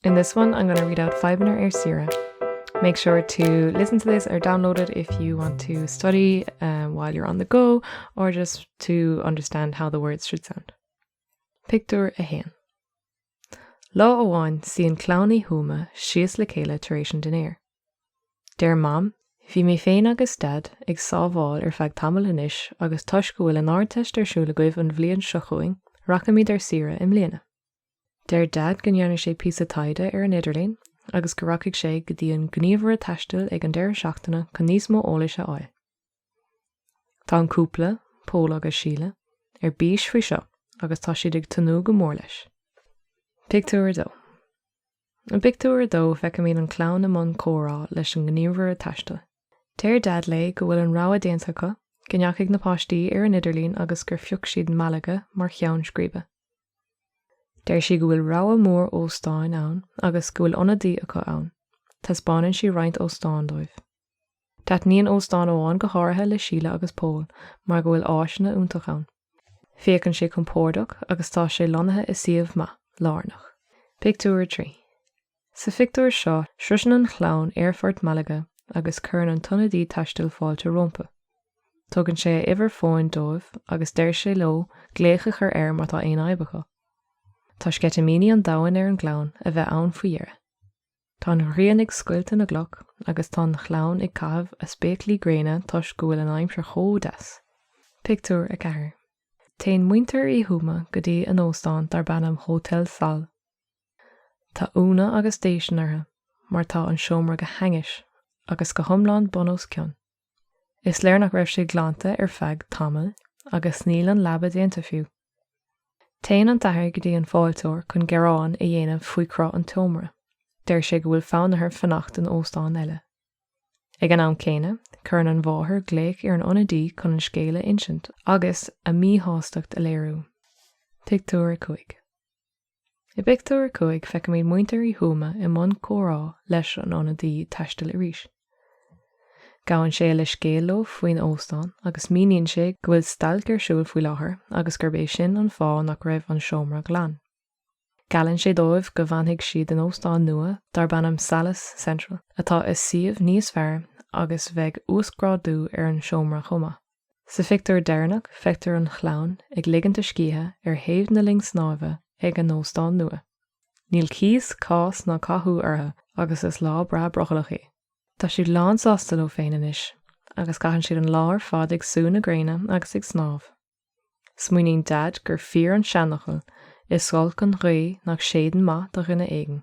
In this one I'm going to read out Fadhbanna ar Saoire. Make sure to listen to this or download it if you want to study um, while you're on the go or just to understand how the words should sound. Pictiúr a haon. Lá amháin suíonn clann Uí Thuama síos le chéile tar éis an dinnéir. Deir mam, bhí mé féin agus dad ag sábháil ar feadh tamaill anois agus toisc go bhfuil an ardteist ar siúl agaibh an bhliain seo chugainn, rachaimid ar saoire i mbliana. Deir Daid go ndearna sé píosa taighde ar an idirlíon agus go rachaidh sé go dtí an gníomhaire taistil ag an deireadh seachtaine chun níos mó eolais a fháil. Tá an cúpla, Pól agus Síle, ar bís faoi seo agus tá siad ag tnúth go mór leis. Pictiúr 2 I bpictiúr a dó feicimid an chlann i mbun comhrá leis an ngníomhaire taistil. Deir Daid léi go bhfuil an rogha déanta acu, go ndeachaigh na páistí ar an idirlíon agus gur phioc siad Malaga mar cheann scríbe. Deir sí go bhfuil rogha mhór óstáin ann agus go bhfuil ionadaí acu ann. Taispeánann sí roinnt óstán dóibh. Taitníonn óstán amháin go háirithe le Síle agus Pól mar go bhfuil áiseanna iontach ann. Féachann sé compordach agus tá sé lonnaithe i suíomh maith, lárnach. Pictiúr 3. Sa phictiúr seo, sroiseann an chlann aerfort Malaga agus cuireann an t-ionadaí taistil fáilte rompu. Tugann sé a uimhir fóin dóibh agus deir sé leo glaoch a chur air má tá aon fhadhb acu. Tá sceitimíní an domhain ar an gclann a bheith ann faoi dheireadh. Tá an ghrian ag scoilteadh na gcloch agus tá an chlann ag caitheamh a spéaclaí gréine toisc go bhfuil an aimsir chomh deas. Pictiúr 4 Téann muintir Uí Thuama go dtí a n-óstán darb ainm Hotel Sol. Tá ionadh agus déistin orthu mar tá an seomra go hainnis agus go hiomlán bun os cionn. Is léir nach raibh sé glanta ar feadh tamaill agus níl an leaba déanta fiú. Téann an t-athair go dtí an fáilteoir chun gearán a dhéanamh faoi chruth an tseomra. Deir sé go bhfuil fonn air fanacht in óstán eile. Ag an am céanna, cuireann an mháthair glaoch ar an ionadaí chun an scéal a insint agus a míshástacht a léiriú. Pictiúr 5. I bpictiúr a cúig feicimid muintir Uí Thuama i mbun comhrá leis an ionadaí taistil arís. Gabhann sé leithscéal leo faoin óstán agus míníonn sé go bhfuil stailc ar siúl faoi láthair agus gurb é sin an fáth nach raibh an seomra glan. Geallann sé dóibh go bhfanfaidh siad in óstán nua darb ainm Salles Central atá i suíomh níos fearr agus bheidh uasghrádú ar an seomra chomh maith. Sa phictiúr deireanach feictear an chlann ag ligint a scíthe ar thaobh na linne snámha ag an óstán nua. Níl cíos, cás ná cathú orthu agus is lá breá brothallach í. Tá siad lánsásta leo féin anois agus caitheann siad an lá ar fad ag sú na gréine agus ag snámh. Smaoiníonn Daid gur fíor an seanfhocal, 'Is olc an ghaoth nach séideann maith do dhuine éigin'.